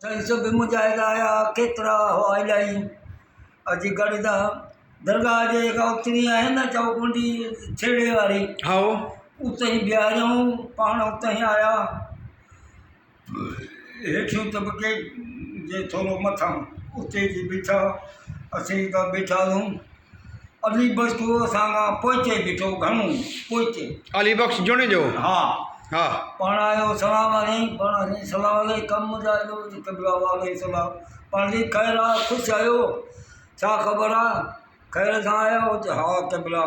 تن سو به مجاهد آيا، ڪيترا هئا الائي. اچي گڏدا درگاهه جي جيڪا اتري آهي نه چوڪنڊي ڇيڙي واري هائو اتي ئي بيهاريائون پاڻ اتي ئي آيا هيٺيون طبقي جي ٿورو مٿان اتي جي بيٺا اسين جيڪا بيٺاسون علي بخش جو اسان کان پوئتي بيٺو گهڻو پوئتي. علي بخش جوڻيجو ها ها. پاڻ آيو سلام عليڪم پاڻ سائين سلام عليڪم مجاهد جو وزير قبلا وعليڪم سلام پاڻ سائين خير آ خوش آهيو ڇا خبر آ خير سان آيا آهيو چي ها قبلا.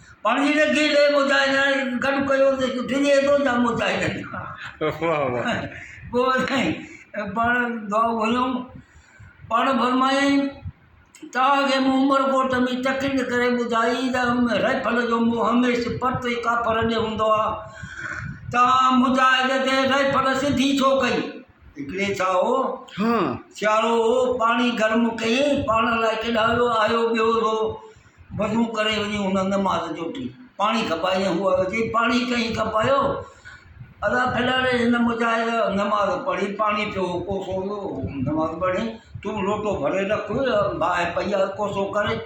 پنهنجي نگي ڏي مجاهدن گڏ ڪيو ته ڊڄي ٿو ڇا مجاهدن کان پوء سائين پاڻ دعائون گهريائون پاڻ فرمايائين توهان کي مون عمرڪوٽ ۾ تقرير ڪري ٻڌائي ته رائفل جو منهن هميشھ پرت ۽ ڪاپر ڏي هوندو آهي توهان مجاهد تي رائفل سڌي ڇو ڪئي هڪڙي ڇا هو سيارو هو پاڻي گرم ڪيائين پاڻ لاء ڪيڏانهن ويو آيو ٻيو هو وضو ڪري وڃي هن نماز جوٽي پاڻي کپائي ۽ هو عرض ڪئي، پاڻي ڪئين کپايو؟ ادا ڦلانڙي هن مجاهد نماز پڙهي پاڻي پيو هو ڪوسو هو نماز پڙهي تون لوٽو ڀري رک باهه پئي آهي ڪوسو ڪري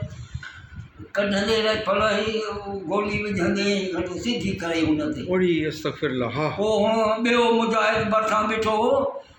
ڪڍندي رهي ڦل هي گولي وجهندي هيء سڌي ڪري هن تي. پوڙهي استغفر الله. پوء هن ٻيو مجاهد ڀرسان بيٺو هو.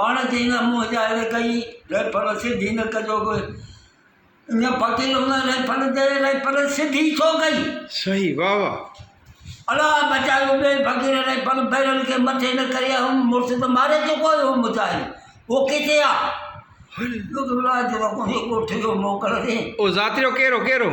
پاڻ چئي نه منهن جا اهڙي ڪئي ريفر سڌي نه ڪجو ڪوئي اڃا فقير هن ريفر ڏي ريفر سڌي ڇو ڪئي صحيح واھ واھ الا بچايو ٻئي فقير ريفر بيرل کي مٿي نه ڪري هن مڙس ته ماري چڪو هيو مجاهد او ڪٿي آ ذاتيو ڪير هو ڪير هو